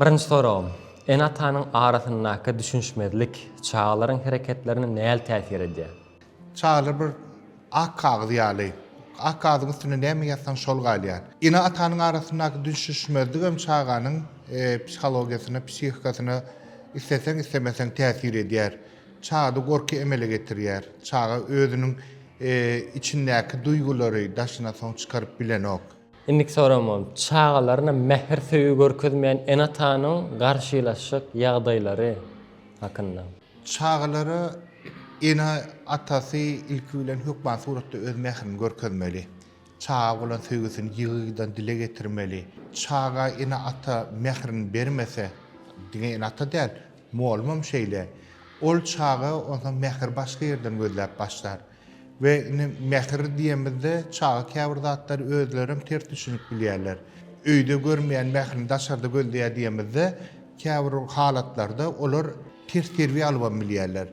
Birinji soragym, ene-atanyň arasyndaky düşünişmezlik çagalaryň hereketlerine näl täsir edýär? Çagalar bir ak kagyz ýaly. Ak kagyzyň üstüne näme ýazsaň şol galýar. Ene-atanyň arasyndaky düşünişmezligem çaganyň psihologiýasyna, psihikasyna isleseň, islemeseň täsir edýär. Çagada gorky emele getirýär. Çaga özüniň içindäki duýgulary daşyna soň çykaryp bilenok. Indiki soramym, çagalaryna mähir söýgi görkezmeýän ene-atanyň garşylaşjak ýagdaýlary hakynda. Çagalara ene atasy ilki bilen hökman suratda öz mährini görkezmeli. Çaga bolan söýgüsini ýygydan dile getirmeli. Çaga ene ata mährini bermese, diňe ene ata däl, mugallymam şeýle, ol çaga onsoň mähir başga ýerden gözläp başlar. We indi mähir diýemizde çaga käbir zatlary özleri hem ters düşünip bilýärler. Öýde görmeýän mährini daşarda gözleýär diýemizde käbir halatlarda olar ters terbiýe alybam bilýärler.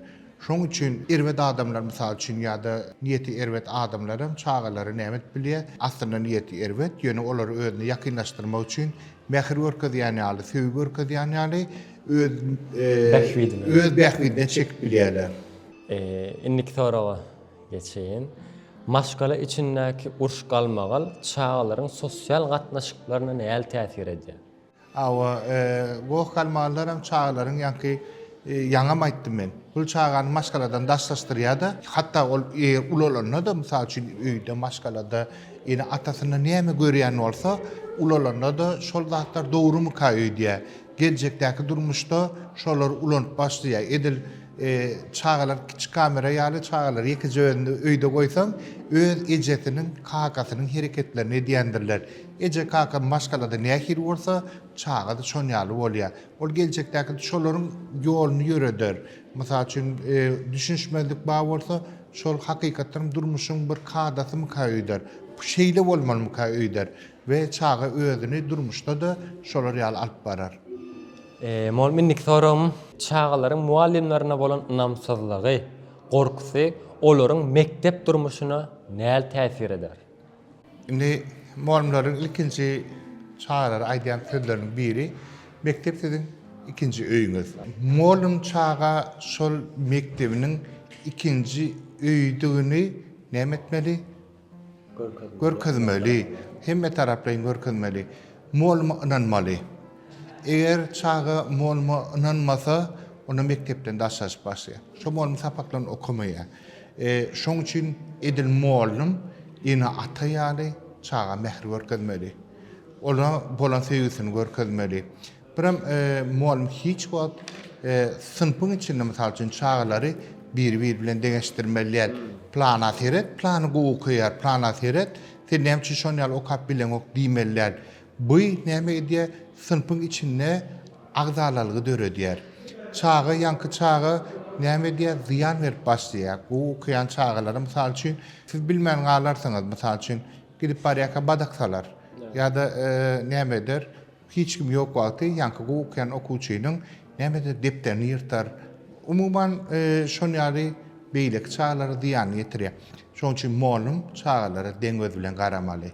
Şonuň üçin erbet adamlar mysal üçin ýa-da niýeti erbet adamlar hem çagalary näme edip bilýär? Aslynda niýeti erbet, ýöne olary özüne ýakynlaşdyrmak üçin mähir görkezýän ýaly, söýgi görkezýän ýaly öz bähbidine çekip bilýärler. Indiki soraga geçeýin. Maşgala içindäki uruş-galmagal çagalaryň sosial gatnaşyklaryna nähili täsir edýär? Hawa, goh-galmagallar hem çagalaryň ýaňky, ýaňam aýtdym men, bu çagany maşgaladan daşlaşdyrýar-da. Hatda ol eger ulalanda-da, mysal üçin, öýde, maşgalada ene-atasynda näme görýän bolsa, ulalanda-da şol zatlar dogrumyka öýdýär. Geljekdäki durmuşda şolary ulanyp başlaýar. Edil. Çagalar kiçi kamera ýaly çagalar ýekeje özüni öýde goýsaň öz ejesiniň kakasynyň hereketlerini edýändirler. Eje kaka maşgalada nähili bolsa çagada şon ýaly bolýa. Ol geljekdäki şolaryň ýoluny ýöreder. Mysal üçin düşünişmezlik bar bolsa şol hakykatdanam durmuşyň bir kadasymyka öýder. Şeýle bolmalymyka öýder we çaga özüni durmuşda-da şolar ýaly alyp barar. Mugallym indiki soragym çagalaryň mugallymlaryna bolan ynamsyzlygy, gorkusy olaryň mekdep durmuşyna näl täsir eder? Indi mugallymlaryň ilkinji çagalara aýdýan sözleriniň biri mekdep siziň ikinji öýüňiz. Mugallym çaga şol mekdebiniň ikinji öýüdigini näme etmeli? görkezmeli, hemmetaraplaýyn görkezmeli, mugallym ynanmaly. Eger çaga mugallym ynanmasa, onda mekdepden daşlaşyp başlaýar. Şo mugallym sapaklaryny okamaýar. Şoň üçin edil mugallym ene ata ýaly çaga mähir görkezmeli. Ola bolan söýgüsini görkezmeli. Birem mugallym hiç wagt synpyň içinde, mysal üçin, çagalary biri-biri bilen deňeşdirmeli däl. Plana seret, plany gowy okaýar, plana seret, sen näme üçin şonuň ýaly okap bileňok diýmeli däl. Bu näme edýär? Synpyň içinde agzalalygy döredýär. Çaga, ýaňky çaga näme edýär? Zyýan berip başlaýar. Gowy okaýan çagalara, mysal üçin, siz bilmän galarsyňyz, mysal üçin, gidip barýarka badak salar ýa-da näme eder? Hiç kim ýok wagty ýaňky gowy okaýan okuwçynyň nämedir depderini ýyrtar. Umuman, şol ýaly beýleki çagalara zyýanyny ýetirýär. Şonuň üçin mugallym çagalara deň göz bilen garamaly.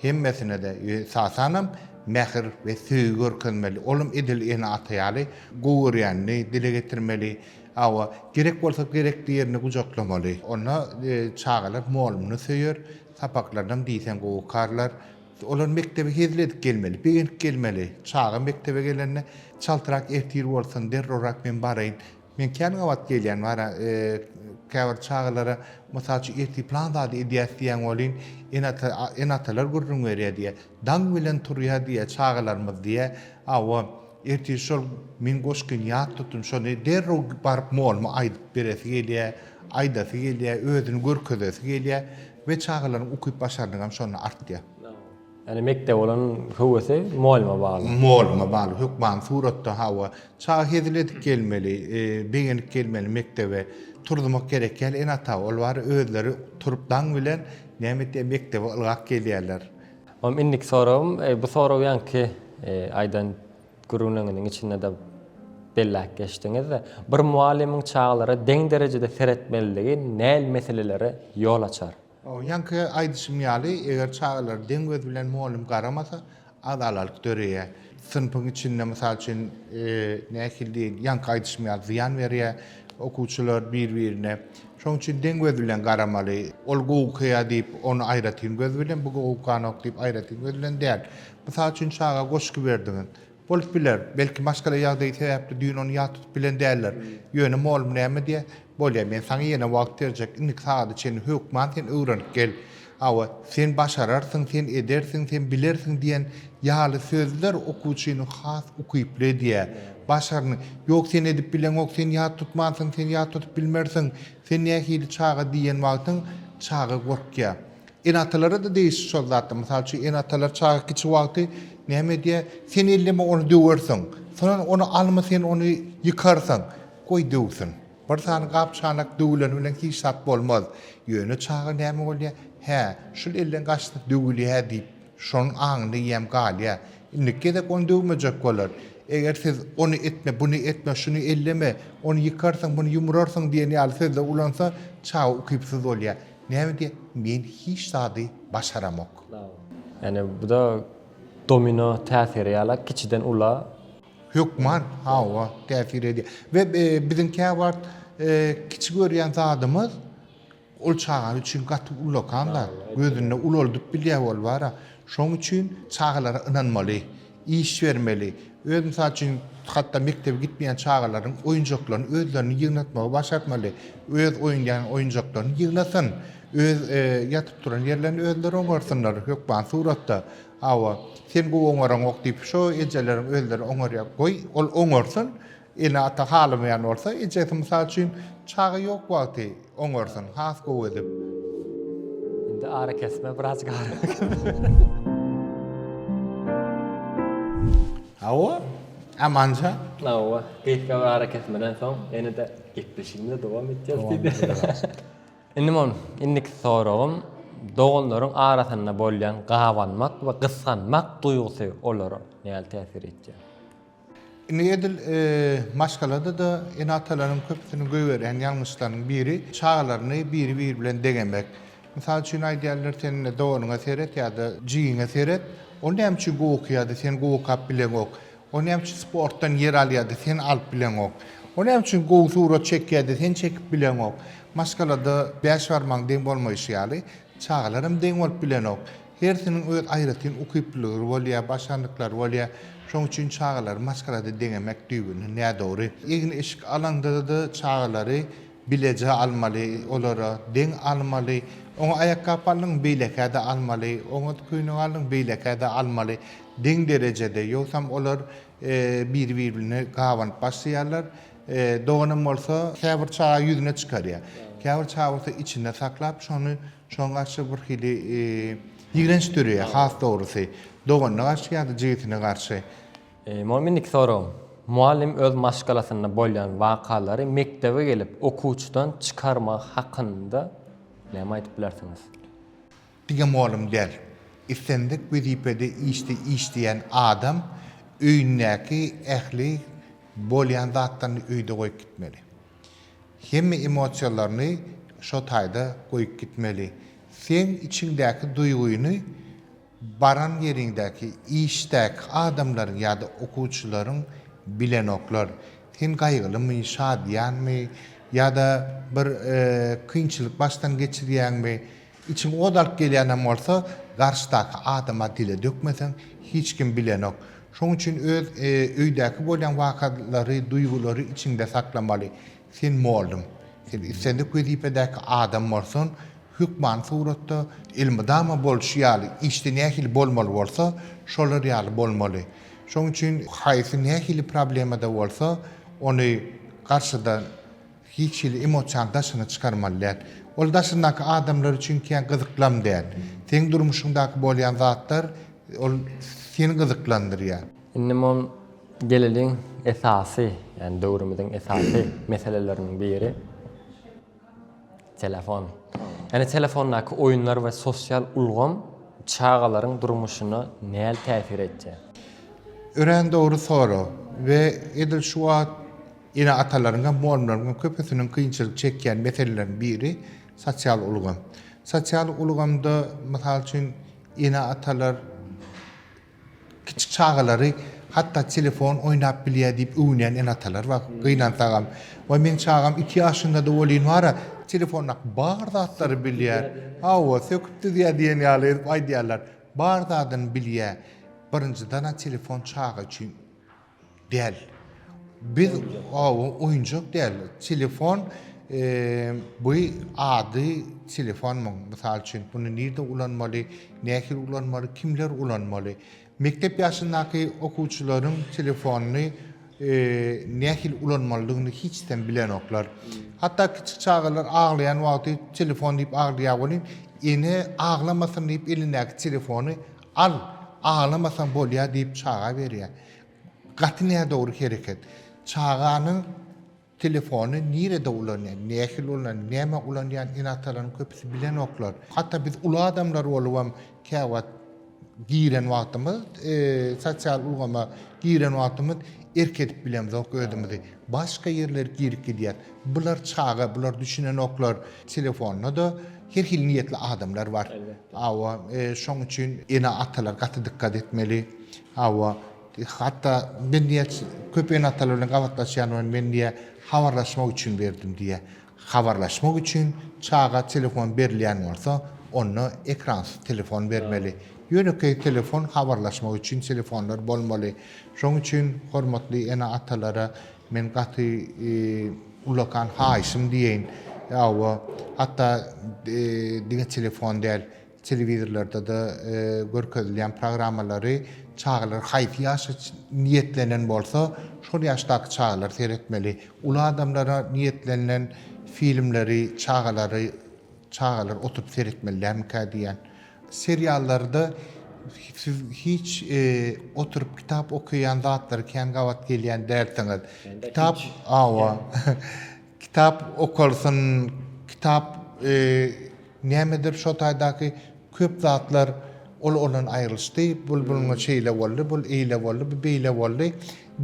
Hemmesine-de, esasanam, mähir we söýgi görkezmeli. Ol hem edil ene-ata ýaly gowy görýänini dile getirmeli. Hawa, gerek bolsa gerekli ýerini gujaklamaly. Onda çagalar mugallymyny söýer, sapaklarynam diýseň gowy okarlar. Olar mekdebe hezil edip gelmeli, begenip gelmeli. Çaga mekdebe gelende, Çaltrak ertir bolsun, derrowrak men baraýyn. Men kän gabat gelýän bara, käbir çagalara, mysal üçin, ertir plan zady edýäs diýen welin, ene-ata, ene-atalar gürrüň berýär diýýär. Daň bilen turýar diýýär çagalarymyz diýýär. Hawa, ertir şol Müň goşgyny ýat tutun, şony derrew baryp moluma aýdyp beresi gelýär, aýdasy gelýär, özüni görkezesi gelýär. We çagalaryň ukyp başarnygam şonda artýar. Ýani mekdebe bolan höwesi mugallyma bagly. Mugallyma bagly hökmany suratda hawa. Çaga hezil edip gelmeli, begenip gelmeli mekdebe. Turzumak gerek ýaly ene ata ol bary özleri turup daň bilen näme etýär mekdebe ylgap gelýärler. Mam indiki soragym bu sorag ýanki aýdan Gürrüňiňiziň içinde-de belläp geçdiňiz. Bir mugallymyň çagalara deň derejede seretmelidigi näl meselelere ýol açar? Ýaňky aýdyşym ýaly, eger çagalar deň göz bilen mugallym garamasa, azalalyk döreýär. Synpyň içinde, mysal üçin, nähili diýeýin, ýaňky aýdyşym ýaly zyýan berýär okuwçylar bir-birine. Şonuň üçin deň göz bilen garamaly. Ol gowy okaýar diýip, ony aýratyn göz bilen, bu gowy okanok diýip, aýratyn göz bilen däl. Mysal üçin çaga goşgy berdiňiz. Bolup biler, belki maşgala ýagdaýy sebäpli düýn ony ýat tutup bilen däldir. Ýöne mugallym näme diýer? Bolýa, men saňa ýene wagt berjek, indiki sagada çenli hökman sen öwrenip gel. Hawa, sen başararsyň, sen edersiň, sen bilersiň diýen ýaly sözler okuwçyny has ukyply edýär. Başarny, ýok sen edip bileňok, sen ýat tutmansyň, sen ýat tutup bilmersiň, sen nähili çaga diýen wagtyň çaga gorkýar. Ene-atalara-da degişli şol zatlar. Mysal üçin, ene-atalar çaga kiçi wagty näme edýär? Sen elleme, ony döwersiň. Soňra ony alma, sen ony ýykarsyň. Goý, döwsün. Bir sany gap-çanak döwüleni bilen hiç zat bolmaz. Ýöne çaga näme bolýar? Hä, şul elden gaçsa döwülýär diýip, şonuň aňynda ýäm galýar. Indiki gezek ony döwmejek bolar. Eger siz ony etme, buny etme, şuny elleme, ony ýykarsyň, muny ýumrarsyň diýen ýaly sözleri ulansa, çaga ukypsyz bolýar. Näbede men hiç zady başaramok. Ýani buda domino täsiri ýala kiçiden ula. Hökman hawa täsir edýär. We biziň käwagt kiçi görýän zadymyz ol çaga üçin gaty ulakan zat. Gözünde ulaldyp bilýär ol bara. Şoň üçin çagalara ynanmaly. iş bermeli. Öz, mysal üçin, hatda mekdebe gitmeýän çagalaryň oýunjaklaryny özleriniň ýygnatmagy başartmaly. Öz oýnaýan oýunjaklaryny ýygnasyn. Öz ýatyp-turan ýerlerini özleri oňarsynlar, hökman suratda. Hawa, sen gowy oňaraňok diýip, şo ejeleriň özleri oňarýar. Goý, ol oňarsyn. Ene-ata halamaýan bolsa, ejesi mysal üçin, çaga ýok wagty oňarsyn, has gowy edip. Indi arakesme birazjyk ara. Hawa, Amanja. Hawa, gysga bir arakesmeden soň ene-de gepleşigimize dowam etýäris diýdi. Indi men indiki soragym, doganlaryň arasynda bolýan gabanmak we gysganmak duýgusy olara nähili täsir edýär? Indi edil maşgalada-da ene-atalaryň köpüsiniň goýberýän ýalňyşlarynyň biri, çagalaryny biri-biri bilen deňemek. Mysal üçin aýdýarlar, sen indi doganyňa seret ýa-da jigiňe seret, ol näme üçin gowy okaýar-da, sen gowy okap bileňok? Ol näme üçin sportdan ýer alýar-da, sen alyp bileňok? Ol näme üçin gowy surat çekýär-de, sen çekip bileňok? Maşgalada bäş barmagyň deň bolmaýşy ýaly, çagalaram deň bolup bilenok. Hersiniň öz aýratyn ukyplylygry bolýar, başarnyklary bolýar. Şoň üçin çagalary maşgalada deňemek düýbünden nädogry. Egin-eşik alaňda-da çagalary bileje almaly, olara deň almaly. Oňa aýakgap aldyň, beýlekä-de almaly, oňa köýnek aldyň, beýlekä-de almaly. Deň derejede, ýogsam olar biri-birine gabanyp başlaýarlar. Doganam bolsa käbir çaga ýüzüne çykarýar. Käbir çaga bolsa içinde saklap, şony Şoň garşy birhili ýigrenç dörýär, has dogrusy, doganyna garşy ýa-da jigisine garşy. Muňa mendiki soragym, mugallym öz maşgalasynda bolýan wakalary mekdebe gelip okuwçydan çykarmagy hakynda näme aýdyp bilersiňiz? Diňe mugallym däl, islendik wezipede işleýän adam öýündäki ähli bolýan zatlaryny öýde goýup gitmeli. Hemme emosiýalaryny şo taýda goýup gitmeli. Seň içiňdäki duýgyny baran ýeriňdäki, işdäki adamlaryň ýa-da okuwçylaryň bilenoklar. Sen gaýgylymy, şadyýanmy ýa-da bir kynçylyk başdan geçirýäňmi, Içiň ot alyp gelýänem bolsa, garşydaky adama dile dökmeseň, hiç kim bilenok. Şoň üçin öz öýdäki bolýan wakalary, duýgulary içiňde saklamaly. Sen mugallym. Sen islendik wezipedäki adam bolsan, hökmany suratda, elmydama bolşy ýaly, işde nähili bolmaly bolsa, şolar ýaly bolmaly. Şoň üçin haýsy nähili problemada bolsa, ony garşyda Hiç hili emosiýany daşyna çykarmaly däl. Ol daşyndaky adamlar üçin kän gyzyklam däl. Seň durmuşyňdaky bolýan zatlar ol seni gyzyklandyrýar. Indi mon geleliň esasy, ýagny döwrümiziň esasy meseleleriniň biri telefon. Ýagny telefondaky oýunlar we sosial ulgam çagalaryň durmuşyna näl täsir etýär? Örän dogry sorag we edil şu wagt Ene-atalaryň hem, mugallymlaryň hem köpüsiniň kynçylyk çekýän meseleleriniň biri sosial ulgam. Sosial ulgamda, mysal üçin, ene-atalar kiçi çagalary hatda telefon oýnap bilýär diýip öwünýän ene-atalar bar, gynansagam. Waý, meniň çagam iki ýaşynda-da welin bar-a, telefondaky bar zatlary bilýär. Hawa, söküp düzýär diýen ýaly edip aýdýarlar. Bar zadyny bilýär. Birinjiden-ä telefon çaga üçin Däl. Biz oba oýunjak däl. Telefon bu ady telefon muň. Mysal üçin bunu nirde ulanmaly, nähili ulanmaly, kimler ulanmaly. Mekdep ýaşyndaky okuwçylaryň telefonyny nähili ulanmalydygyny hiç sem bilenoklar. Hatda kiçik çagalar aglaýan wagty telefon diýip aglaýar welin ene aglamasyn diýip elindäki telefony Al, aglamasaň bolýar diýip çaga berýär. Gaty nädogry hereket. Çaganyň telefony nirede ulanýar, nähili ulanýar, nämä ulanýan ene-atalaryň köpüsi bilenoklar. Hatda biz uly adamlar bolubam käwagt giren wagtymyz, sosial ulgama giren wagtymyz erk edip bilemzok özümizi. Başga ýerler girip gidýär. Bular çaga, bular düşünenoklar. Telefonda-da Her hili niýetli adamlar bar. Elbetde. Hawa, şoň üçin ene-atalar gaty dykgat etmeli. Hawa, hatda men diýä köp ene-atalar bilen gabatlaşýan we men diýä habarlaşmak üçin berdim diýä. Habarlaşmak üçin çaga telefon berilýän bolsa, onda ekransyz telefon bermeli. Ýönekeý telefon habarlaşmak üçin telefonlar bolmaly. Şoň üçin hormatly ene-atalara Men gaty ullakan haýyşym diýeýin, hawa, hatda diňe telefon däl, telewizorlarda-da görkezilýän programmalary çagalar haýsy ýaşa niýetlenen bolsa, şol ýaşdaky çagalar seretmeli. Uly adamlara niýetlenilen filmleri çagalary çagalar oturyp seretmeli dälmikä diýýän. Seriallarda siz hiç oturyp kitap okaýan zatlary kän gabat gelýän dälsiňiz. Kitap awa. Kitap okalsyn, kitap nämedir şo taýdaky köp zatlar ol ondan aýrylyşdy. Bul bunuňa şeýle boldy, bul eýle boldy, bu beýle boldy.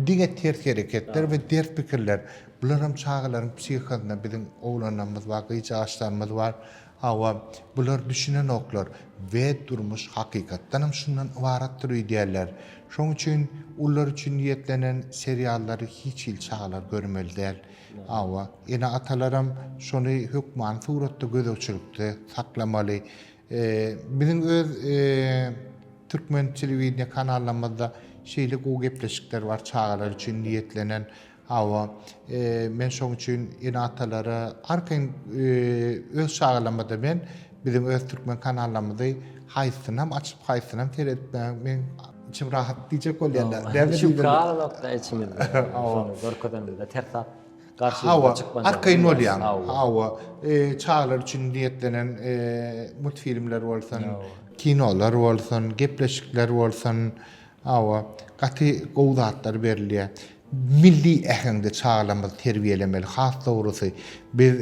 Diňe ters hereketler we ters pikirler. Bularam çagalaryň psihosyna biziň oglanlarymyz bar, gyzjagaçlarymyz bar. Hawa, bular düşünenoklar we durmuş hakykatdanam şundan ybaratdyr öýdýärler. Şoň üçin ulylar üçin niýetlenen seriallary hiç hili çagalar görmeli däl. Hawa, ene-atalaram şony hökmany suratda gözegçilikde saklamaly. Biziň öz türkmen telewideniýe kanallarymyzda şeýle gowy gepleşikler bar çagalar üçin niýetlenen. Hawa, men şoň üçin ene-atalara arkaýyn öz çagalarymyzda men biziň öz türkmen kanallarymyzy haýsynam açyp, haýsynam seretmäge men içim rahat diýjek bolýarlar. Näme diýjek? Şükür Allah'a içimizde. Hawa. Görkezeniňde ters zat garşymyza çykmaz. Hawa, arkaýyn bolýan. Hawa. Çagalar üçin niýetlenen multfilmler bolsun, kinolar bolsun, gepleşikler bolsun, Hawa, gaty gowy zatlar berilýär. Milli äheňde çagalarymyzy terbiýelemeli. Has dogrusy, biz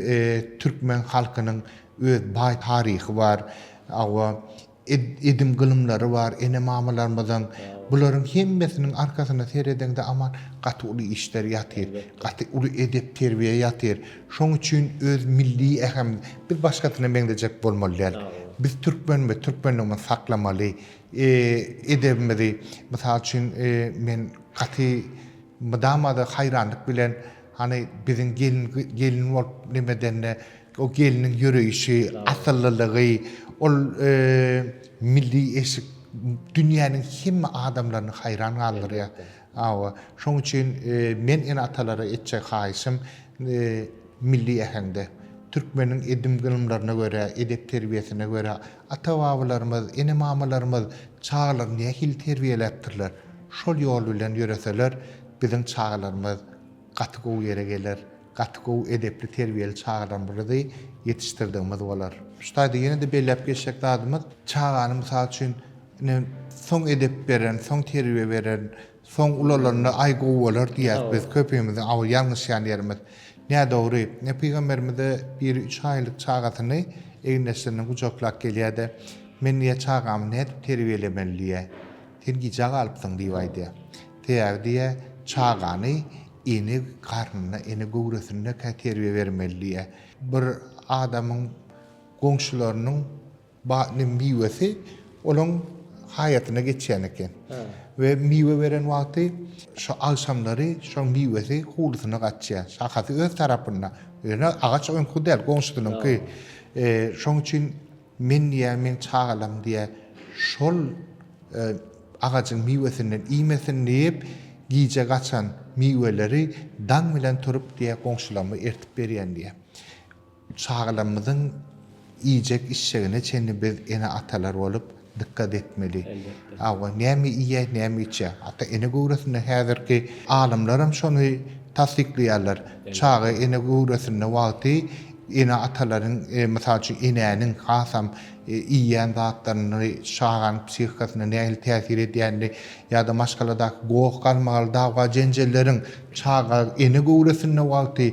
türkmen halkynyň öz baý taryhy bar. Hawa, edim-gylymlary bar ene-mamalarymyzyň. Bularyň hemmesiniň arkasyna seredeňde aman gaty uly işler ýatyr. Gaty uly edep-terbiýe ýatyr. Şoň üçin öz milli ähem biz başgasyna meňzejek bolmaly däl. Biz türkmenimiz, türkmenligimizi saklamaly. edebimizi, mysal üçin, men gaty mydama-da haýranlyk bilen, hany, biziň gelin, gelin bolup neme edende, o gelniň ýöreýşi, asyllylygy, ol milli eşik dünýäniň hemme adamlaryny haýran galdyrýar. Hawa, şoň üçin men ene-atalara etjek haýyşym milli äheňde, türkmeniň edim-gylymlaryna görä, edep-terbiýesine görä, ata-babalarymyz, ene-mamalarymyz çagalary nähili terbiýeläpdirler, şol ýol bilen ýöreseler, biziň çagalarymyz gaty gowy ýere geler, gaty gowy edepli-terbiýeli çagalarymyzy ýetişdirdigimiz bolar. Şu taýda ýene-de belläp geçjek zadymyz, çagany, mysal üçin, Ine, soň edep beren, soň terbiýe beren, soň ulalanda, aý, gowy bolar diýýäs biz. Köpimiziň aw, ýalňyşýan ýerimiz. Nädogry. Ine, pygamberimiz-de biri üç aýlyk çagasyny egindeşlerinden gujaklap gelýär-de, Men diýýär, çagamy nädip terbiýelemeli diýýär. Sen gijä galypsyň diýip aýdýar. Sebäbi diýýär, çagany ene garnynda, ene göwresinde-kä terbiýe bermeli diýýär. Bir adamyň goňşularynyň. Badnyň miwesi olaň haýatyna geçýän eken we miwe beren wagty şo agşamlary şoň miwesi hulusyna gaçýar. Şahasy öz tarapynda. Ýöne agaç oňky däl, goňşusynyňky. Şoň üçin men diýýär, meň çagalarym diýýär, şol agajyň miwesinden iýmesin diýip, gije gaçan miweleri daň bilen turup diýýär, goňşularyma ertip berýän diýýär. Çagalarymyzyň iýjek-içjegine çenli biz ene-atalar bolup dykgat etmeli. Hawa, näme iýýär, näme içýär? Ata-ene göwresinde häzirki alymlar hem şony tassyklaýarlar. Çaga ene göwresinde wagty ene-atalaryň, mysal üçin, enäniň hasam iýýän zatlaryny çaganyň psihikasyna nähili täsir edýänini ýa-da maşgaladaky goh-galmagal, dawga-jenjelleriň çaga ene göwresinde wagty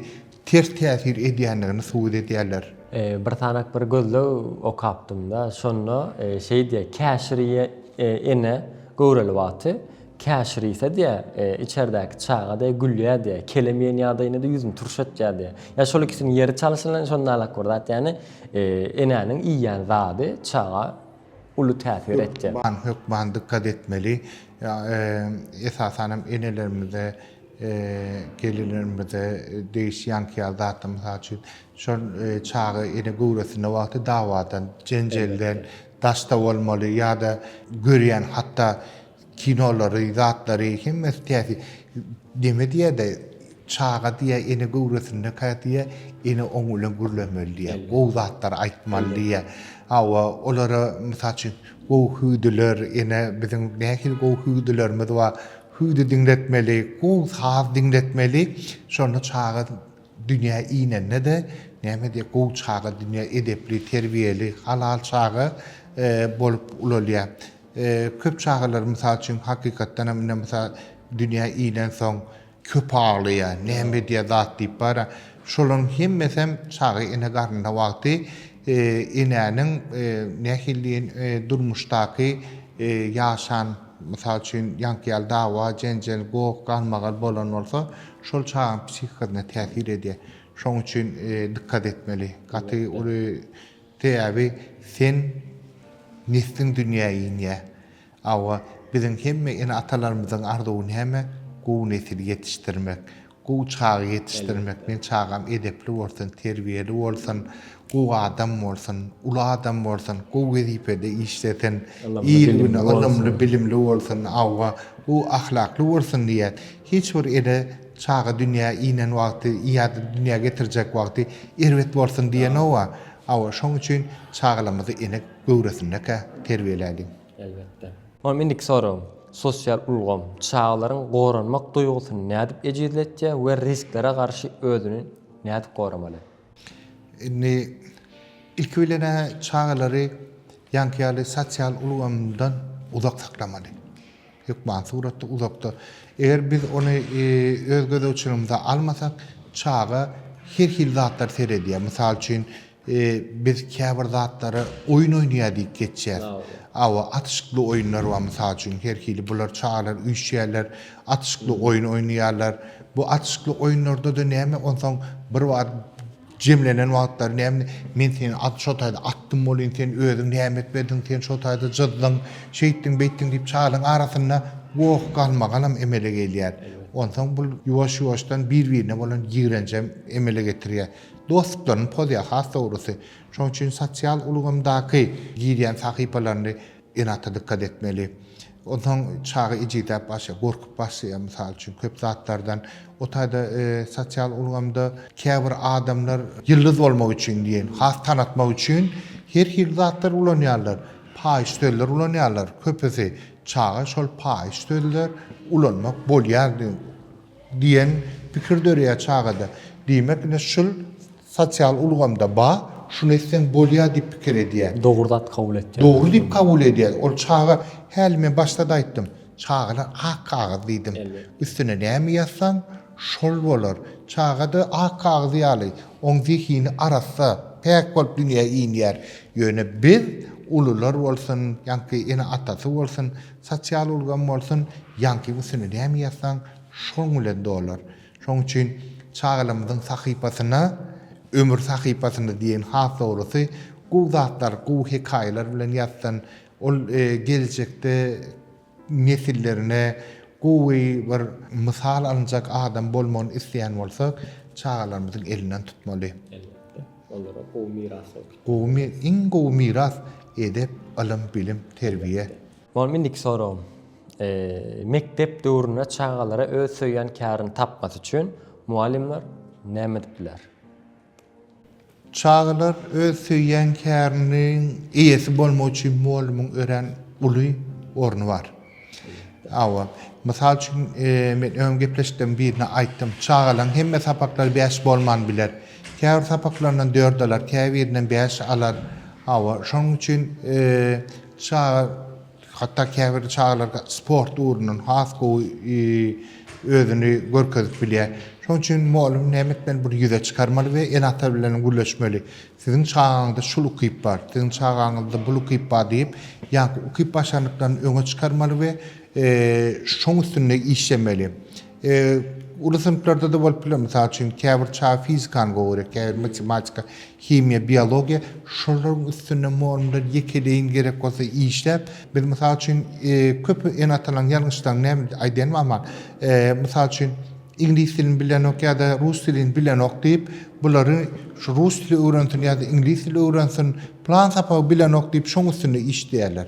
ters täsir edýändigini subut edýärler. Bir sanak bir gözleg okapdym-da, şonda şeý diýýär, Käşirýe ene göwreli wagty käşirýse diýýär, içerdäki çaga diýýär, gülýär diýýär, kelem iýen ýagdaýynda-da ýüzüni turş etýär diýýär. Ýa şol ikisiniň ýeri çalşyna şonda alak bir zat, ýagny enäniň iýýän zady çaga uly täsir etjek. Hökman dykgat etmeli. Esasan hem enelerimize, gelinlerimize degişi ýankýar zatlar. Mysal üçin, şol çaga ene göwresinde wagty dawadan, jenjelden daşda bolmaly ýa-da görýän hatda Kinolary, zatlary hemmesi täsi neme diýäde çaga diýä ene göwresindekä diýä ene oň bilen gürlemeli diýä gowy zatlar aýtmaly diýä hawa olara mysal üçin gowy hüwdüler ene biziň nähili gowy hüwdülerimiz bar hüwdi diňletmeli gowy saz diňletmeli şonda çaga dünýä inende-de näme diýä gowy çaga dünýä edepli terbiýeli halal çaga bolup ulalýar. Köp çagalar mysal üçin hakykatdan hem ine mysal dünýä inensoň köp aglaýar. Näme edýär zat diýip bara. Şolaryň hemmesi hem çaga ene garnynda wagty e, enäniň e, nähili diýen e, durmuşdaky e, ýaşan mysal üçin ýaňky ýaly dawa, jenjel, goh, galmagal bolan bolsa, şol çagaň psihikasyna täsir edýär. Şoň üçin e, dykkat etmeli. Gaty uly Sebäbi sen nesliň dünýä inýä. Awa, biziň hemme ene-atalarymyzyň arzuwy näme? Gowy nesil ýetişdirmek. Gowy çaga ýetişdirmek. Men çagam edepli bolsun, terbiýeli bolsun, gowy adam bolsun, uly adam bolsun, gowy wezipede işlesin, il-güne ylymly-bilimli bolsun, awa, gowy ahlakly bolsun diýýäs. Hiç bir ene çaga dünýä inen wagty ýa-da dünýä getirjek wagty erbet bolsun diýenok-a. Hawa, şoň üçin çagalarymyzy ene göwresinde-kä terbiýeläliň. Elbetde. Onuň indiki soragym, sosial ulgam çagalaryň goranmak duýgusyny nädip ejizletýär we risklere garşy özüni nädip goramaly? Indi, ilki bilen-ä çagalary ýaňky ýaly sosial ulgamdan uzak saklamaly. Hökman suratda uzakda. Eger biz ony öz gözegçiligimize almasak, çaga her hili zatlary seredýär. Mysal üçin, biz käbir zatlary oýun oýnaýar diýip geçýäs. Awa, atyşykly oýunlar bar, mysal üçin, her hili bular çagalar üýşýärler, atyşykly oýun oýnaýarlar. Bu atyşykly oýunlarda-da näme, onsoň bir wagt Jemlenen wagtlary näme, men seni at şo taýda atdym welin, sen özüň näme etmediň, sen şo taýda jyzdyň, şeýtdiň-beýtdiň diýip şalyň arasynda goh galmagalam emele gelýär. Onsoň bul ýuwaş-ýuwaşdan bir-birine bolan ýigrenjem emele getirýär. Dostluklaryny pozýar has dogrusy. Şonuň üçin sosial ulgamdaky girýän sahypalaryny Ene-ata dykgat etmeli. Onsoň çaga ejizläp başlaýar, gorkup başlaýar, mysal üçin, köp zatlardan. O taýda sosial ulgamda käbir adamlar ýyldyz bolmak üçin diýen, has tanatmak üçin her hili zatlar ulanýarlar. Paýyş sözler ulanýarlar köpüsi. Çaga şol paýyş sözler ulanmak bolýar diýip Diýen pikir döreýär çagada. Diýmek ine şul sosial ulgamda ba, şuny etseň bolýar diýip pikir edýär. Dogry zat kabul etýär. Dogry diýip kabul edýär. Ol çaga häli men başda-da aýtdym. Çagalar ak kagyz diýdim. Üstüne näme ýazsaň, şol bolar. Çaga-da ak kagyz ýaly. Oň zehini arassa, päk bolup dünýä inýär. Ýöne biz, ulular bolsun, ýaňky ene-atasy bolsun, Sosial ulgam bolsun, ýaňky gusini näme ýazsaň, şoň bilen dolar. Şoň üçin çagalarymyzyň sahypasyna ömür sahypasyny diýen has dogrusy, gowy zatlar, gowy hekaýalar bilen ýazsyn. Ol geljekde nesillerine gowy bir mysal alynjak adam bolmagyny isleýän bolsak, çagalarymyzyň elinden tutmaly. Elbetde. Olara gowy miras bolupdyr. Gowy mi iň gowy miras edep ylym bilim terbiýe. Molim indiki soragym mekdep döwründe çagalara öz söýýän kärini tapmasy üçin mugallymlar näme edip biler? Çagalar öz söýýän käriniň eýesi bolmagy üçin mugallymyň örän uly orny bar. Hawa. Mysal üçin, men öň gepleşikleriň birinde aýtdym. Çagalaryň hemme sapaklary bäş bolman biler. Käbir sapaklaryndan dört alar, käbirinden bäş alar. Hawa, şonuň üçin çaga, hatda käbir çagalar sport ugrundan has gowy özüni görkezip bilýär. Şonuň üçin mugallym näme etmeli? Buny ýüze çykarmaly we ene-ata bilen gürleşmeli. Siziň çagaňyzda şul ukyp bar, siziň çagaňyzda bul ukyp bar diýip, ýaňky ukyp başarnyklaryny öňe çykarmaly we şoň üstünde işlemeli. Uly synplarda-da bolup biler. Mysal üçin, käbir çaga fizikany gowy görýär, käbiri matematika, himiýa, biologiýa. Şolaryň üstünde mugallymlar ýekeleýin gerek bolsa işläp, biz mysal üçin köp ene-atalaryň ýalňyşlaryny näme aýdaýanymyz aman, mysal üçin, Iňlis dilini bilenok ýa-da rus dilini bilenok diýip, bulary şu rus dili öwrensin ýa-da iňlis dili öwrensin, plan sapagy bilenok diýip, şoň üstünde işleýärler.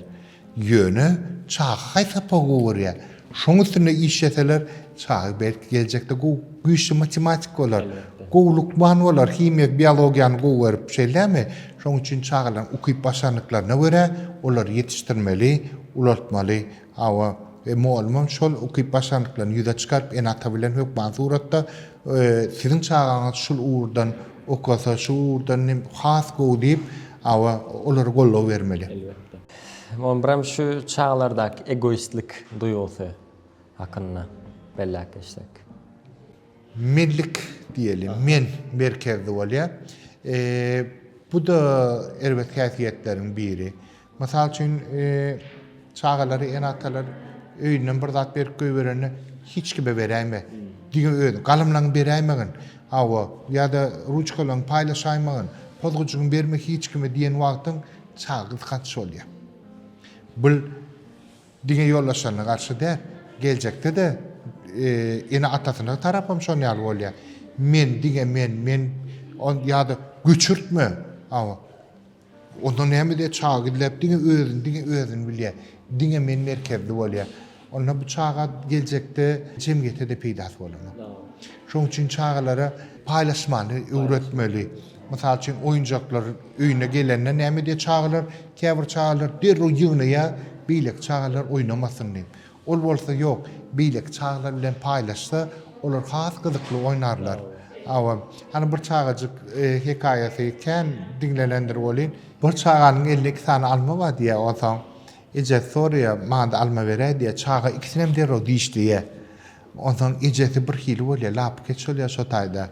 Ýöne çaga haýsy sapagy gowy görýär? Şoň üstünde işleseler, çaga belki geljekde gowy, güýçli matematik bolar, gowy lukman bolar, himiýa, biologiýany gowy görüp, şeýlemi? Şoň üçin çagalaryň ukyp-başarnyklaryna görä olary ýetişdirmeli, ulaltmaly. Hawa, e, mugallymam şol ukyp başarnyklaryny ýüze çykaryp, ene-ata bilen hökman suratda, e, siziň çagaňyz şul ugurdan okasa, şu ugurdan nem has gowy diýip, hawa, olara goldaw bermeli. Elbetde. Muňa birem şu çagalardaky egoistlik duýgusy hakynda belläp geçsek. Menlik diýeli, men merkezli bolýar. E, bu-da erbet häsiýetleriň biri. Mysal üçin, çagalary ene-atalar öýünden bir zat berip goýberende hiç kime beräýme. Diňe öz galamlaňy beräýmegin. Hawa, ýa-da ruçkalaňy paýlaşaýmagyn, pozguçyňy berme hiç kime diýen wagtyň çaga gysganç bolýar. Bu diňe ýoldaşlaryna garşy däl, geljekde-de ene-atasyna tarap hem şonuň ýaly bolýar. Men, diňe men, men ýa-da göçürtme. Hawa. Onda näme diýýär, çaga gizläp diňe özüni, diňe özüni bilýär. Diňe men merkezli bolýar. Onda bu çaga geljekde jemgyýete-de peýdasy bolanok. Şonuň üçin çagalara paýlaşmany öwretmeli. Mysal üçin, oýunjaklar öýüne gelende näme diýýär çagalar? Käbir çagalar derrew ýygnaýar, beýleki çagalar oýnamasyn diýip. Ol bolsa ýok, beýleki çagalar bilen paýlaşsa, olar has gyzykly oýnarlar. Hawa, hany bir çagajyk hekaýasy kän diňlenendir welin. Bir çaganyň elinde iki sany alma bar diýýär. Onsoň ejesi soraýar, Maňa-da alma beräý diýýär. Çaga ikisinem derrew dişleýär. Onsoň ejesi birhili bolýar, lapykeç bolýar şo taýda.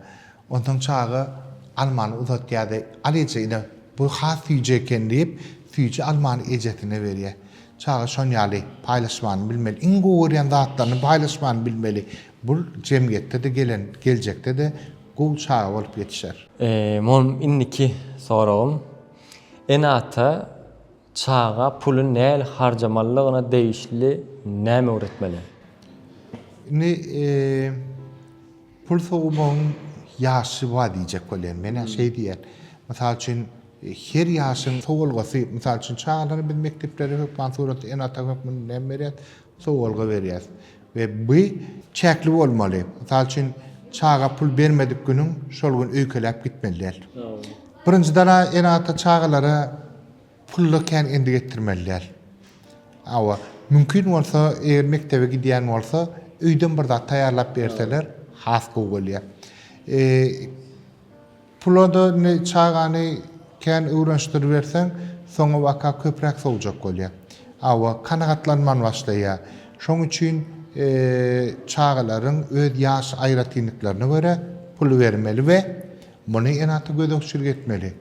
Onsoň çaga almany uzatýar-da, Al eje, ine, bu has süýji eken diýip, süýji almany ejesine berýär. Çaga şon ýaly paýlaşmany bilmeli. Iň gowy görýän zatlaryny paýlaşmany bilmeli. Bul jemgyýetde-de gelen, geljekde-de gowy çaga bolup ýetişer. Mom indiki soragym. Ene-ata Çaga puly näl harjamalydygyna degişli näme öwretmeli? Indi pul sowmagyň ýaşy bar diýjek bolýan. Men-ä şeý diýýän. Mysal üçin, her ýaşyň sowulgasy, mysal üçin, çagalara biz mekdeplerde hökman suratda ene-ata hökmünde näme berýäs? Sowalga berýäs we bu çäkli bolmaly. Mysal üçin, çaga pul bermedik günüň şol gün öýkeläp gitmeli däl. Birinjiden ene-ata çagalara pully kän endik etdirmeli däl. Hawa, mümkin bolsa, eger mekdebe gidýän bolsa, öýden bir zat taýýarlap berseler has gowy bolýar. Pula-da indi çagany kän öwrenşdiriberseň, soňabaka köpräk sowjak bolýar. Hawa, kanagatlanman başlaýar. Şoň üçin çagalaryň öz ýaş aýratynlyklaryna görä pul bermeli we muny ene-ata gözegçilik etmeli.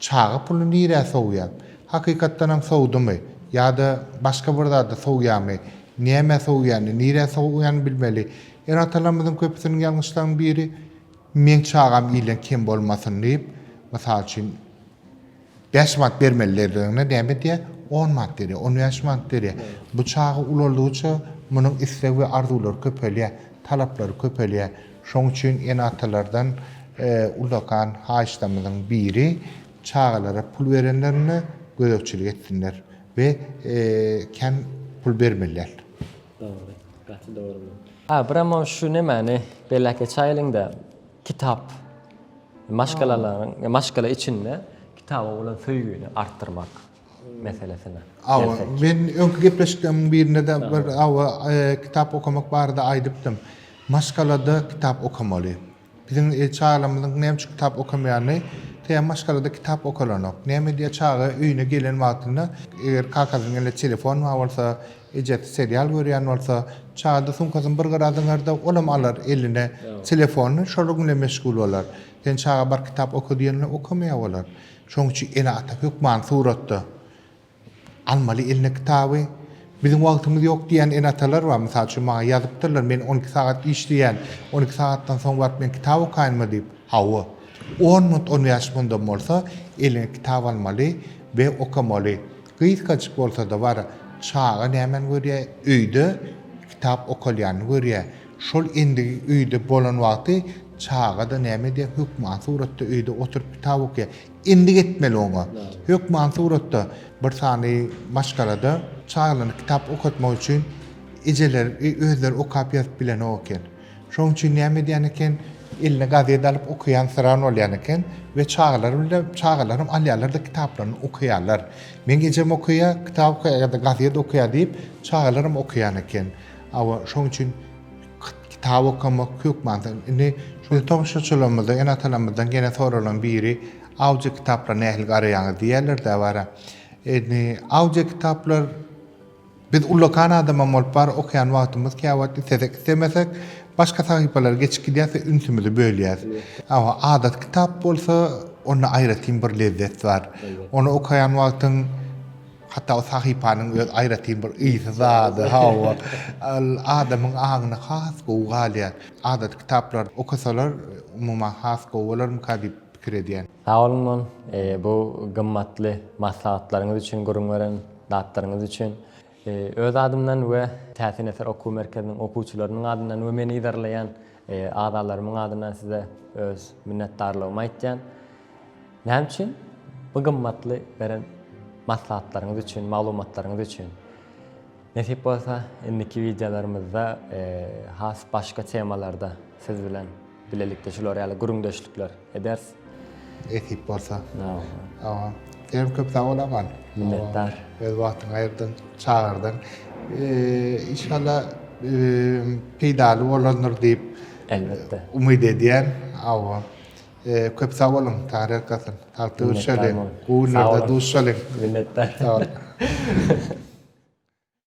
Çaga puly nirä sowýar? Hakykatdan hem sowdumy ýa-da başga bir zada sowýarmy? Nämä sowýany, nirä sowýany bilmeli. Ene-atalarymyzyň köpüsiniň ýalňyşlaryň biri, Meň çagam ile kem bolmasyn diýip, mysal üçin, bäş manat bermeli derdigiňde näme edýär? On manat berýär, on bäş manat berýär. Bu çaga ulaldygyça, munuň isleg we arzuwlary köpelýär, talaplary köpelýär. Şoň üçin ene-atalardan ullakan haýyşlarymyzyň biri, çagalara pul berenlerinde gözegçilik etsinler we kän pul bermeliler. Dogry. Gaty dogry bu. Abramo şu nemäni beläke çaýylyňda kitap maşgalalaryň maşgala içinde kitaba bolan söýgini artdyrmak meselesine. Awa men öňki gepleşikleriň birinde de bir awa kitap okamak barada aýdypdym. Maşgalada kitap okamaly. Biziň çagalarymyzyň näme üçin kitap okamaýanyny Saýa maşgalada kitap okalanok. Näme diýýär çaga öýüne gelen wagtynda eger kakasynyň elinde telefon bar bolsa, ejesi serial görýän bolsa, çagada sumkasyny bir gyra zyňarda olam alar eline telefonyny şonuň bilen meşgul bolar. Sen çaga bar kitap oka diýende okamaýar olar. Şonuň üçin ene-ata hökmany suratda Almaly eline kitaby. Biziň wagtymyz ýok diýýän ene-atalar bar. Mysal üçin, maňa ýazypdyrlar, Men on iki sagat işleýän. On iki sagatdan soň baryp men kitap okaýynmy diýip. Hawa. On minut, on bäş minudam bolsa, eliňe kitap almaly we okamaly. Gysgajyk bolsa-da bar. Çaga nämäni görýär? Öýde kitap okalýanyny görýär. Şol endigi öýde bolan wagty çaga-da näme edýär? Hökman suratda öýde oturyp kitap okaýar. Endik etmeli oňa. Hökman suratda bir sany maşgalada çagalary kitap okatmak üçin ejeler özleri okap ýazyp bilenok eken. Şonuň üçin näme edýän eken, eline gazet alyp okaýansyran bolýan eken we çagalar bile çagalaram alýarlar-da kitaplaryny okaýarlar. Meň ejem okaýa, kitap okaýa ýa-da gazet okaýa diýip çagalaram okaýan eken. Awa şonuň üçin Kitap okamak hökman sen indi biz tomaşaçylarymyzdan, ene-atalarymyzdan gene soralan biri audio kitaplara nähili garaýaňyz diýerler-dä bara. Indi audio kitaplar biz ullakan adamam bolup bar okaýan wagtymyz käwagt islesek islemesek başga sahypalara geçip gidýäs we ünsümizi bölýäs. Awa adaty kitap bolsa onda aýratyn bir lezzet bar. Ony okaýan wagtyň Hatda o sahypanyň öz aýratyn bir ysy zady, hawa, ol adamyň aňyna has gowy galýar. Adaty kitaplary okasalar, umuman, has gowy bolarmyka diýip pikir edýän. Sag bolun bu gymmatly maslahatlaryňyz üçin, gürrüň beren zatlaryňyz üçin. Öz adymdan we Täsin eser okuw merkeziniň okuwçylarynyň adyndan we meni yzarlaýan agzalarymyň adyndan size öz minnetdarlygymy aýtýan. Näme üçin? Bu gymmatly beren maslahatlaryňyz üçin, maglumatlaryňyz üçin. Nesip bolsa, indiki wideolarymyzda has başga temalarda siz bilen bilelikde şular ýaly gürrüňdeşlikler ederis. Nesip bolsa. Awa. Siz köp sag bol Aman. Minnetdar. Öz wagtyňy aýyrdyň, çagyrdyň. Inşallah peýdaly bolandyr diýip, elbetde, umyt edýän. Awa. Köp sag boluň Tarik Hasan. Sag duşalyň. Gowy günlerde duşalyň. Minnetdar. Sag boluň.